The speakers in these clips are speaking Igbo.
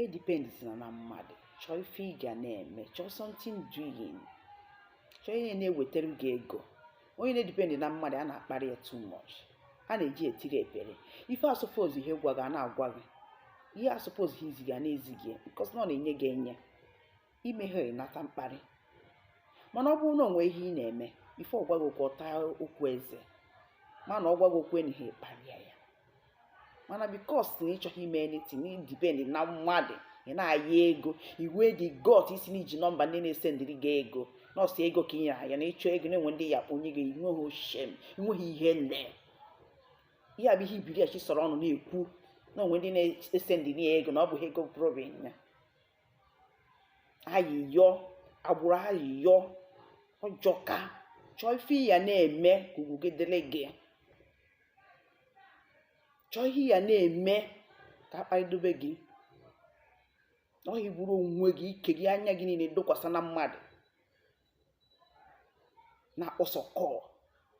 edipendizina na mmadụ chọọ ife ị ga na-eme chọọ something doing chọọ ihe na-ewetara gị ego onye na-edipendị na mmadụ a na-akparị ya too much a na-eji etiri epele ife a supposeghị ịgwa gị a na-agwa gị ihe a supposeghị izi gị a na-ezi gị bikos na ọ na-enye gị enye i meghe ị nata mkparị mana ọ bụrụ na o nwee ihe ị na-eme bifọ ọ gwa gị okwu ọ taa okwu eze mana ọ gwaghị okwu enyighị kparịa ya mana bikos na ị chọghị ime anything na ị dipend na mmadụ ị na-ayọ ego i nwedị guts ịsị na i ji nọmba ndị na-esendịrị gị ego na ọ sọ ego ka ị nyere anya na ị chọọ ego na e nwe ndị ị ya-akpọ o nye gị i nweghị shame i nweghị ihere ihe a bụ ihe ibiri achi sọrọ ọnụ na-ekwu na o nwe ndị na-esendị ya ego na ọ bụghị ego problem ya ayịyọ agbụrụ ayịyọ ọ jọka chọọ ife ị ya na-eme ka ugwu gị dịrị gị chọọ ihe ị ya na-eme ka a kparịdobe gị na ọ bụghị i buru onwe gị ike gị anya gị niile dokwasa na mmadụ na-akpọsa call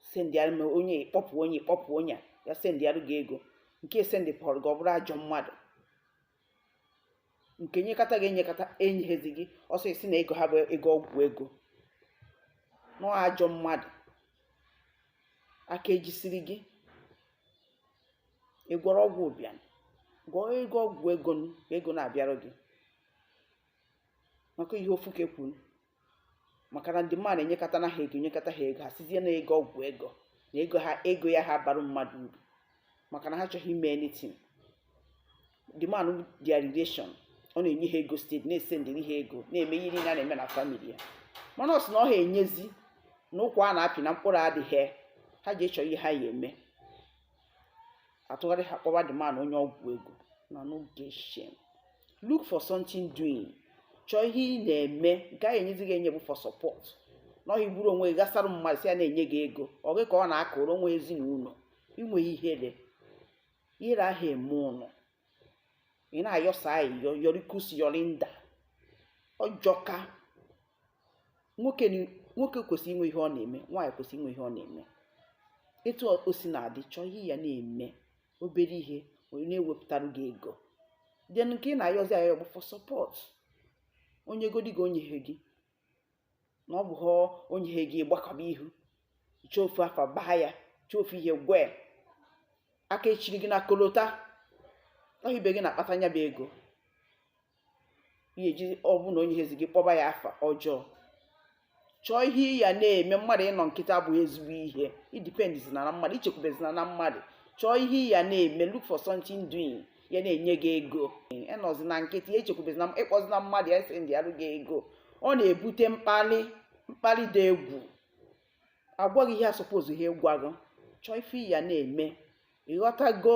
sendịara m onye ị kpọpụ onye ị kpọpụ onye a, ya sendịara gị ego nke sendịpụrụ gị ọ bụrụ ajọ mmadụ nke nyekata gị enyekata enyeghezi gị ọzọ ị sị na ego ha bụ ego ọgwụ ego na ọ ajọ mmadụ aka ejisiri gị ị gwọrọ ọgwụ ụbịam gwọọ ego ọgwụ ego ego na-abịara gị maka ihe ofu ka ekwuru maka na the man enyekatana ha ego nyekata ha ego ha sịzie na ego ọgwụ ego na ego ha ego ya aha abara mmadụ uru maka na ha chọghị ime anything the man their relation ọ na-enye ha ego steady na-esendịrị ha ego na-eme ihe niile a na-eme na famili ya mana ọ sị na ọ ha enyezi na ụkwụ a na-apị na mkpụrụ adịghị ha je chọọ ihe ha ya-eme atụgharịa kpọwa the man onye ọgwụ ego una no get shame look for something doing chọọ ihe ị na-eme nke a ya-enyezi gị enye bụ for support na ọ bụghị i buru onwe gị gasara mmadụ sị ya na-enye gị ego ọ gị ka ọ na-akụrụ o nwe ezinụlọ i nwehe ihere ihere aha eme unu ị na-ayọsa ayịyọ yọrikus yọrinda ọ jọka nwoke nwoke kwesịrị inwe ihe ọ na-eme nwaanyị kwesịrị inwe ihe ọ na-eme etu o si na-adị chọọ ihe ị ya na-eme obere ihe ya na-ewepụtara gị ego then nke ị na-ayọzi ayọ bụ fọ sọpọt o nyegodi gị o nyehe gị na ọ bụghị o nyehe gị ị gbakọba ihu ị chọọ ofu afa baa ya chọọ ofu ihe gwa ya aka echiri gị na kolota ọ bụghị ibe gị na-akpata nya bụ ego ị ya-eji ọ bụ na o nyehezi gị kpọba ya afa ọjọọ chọọ ihe ị ya na-eme mmadụ ịnọ nkịtị abụghị ezigbo ihe edipendizina na mmadụ echekwubezina na mmadụ chọọ ihe ị ya na-eme look for something doing ya na-enye gị ego ịnọzina nkịtị echekwubezina ịkpọzina mmadụ ya sendịarụ gị ego ọ na-ebute mkpalị mkpalị dị egwu a gwa gị ihe asupposeghị ịgwa gị chọọ ife ị ya na-eme ịghọtago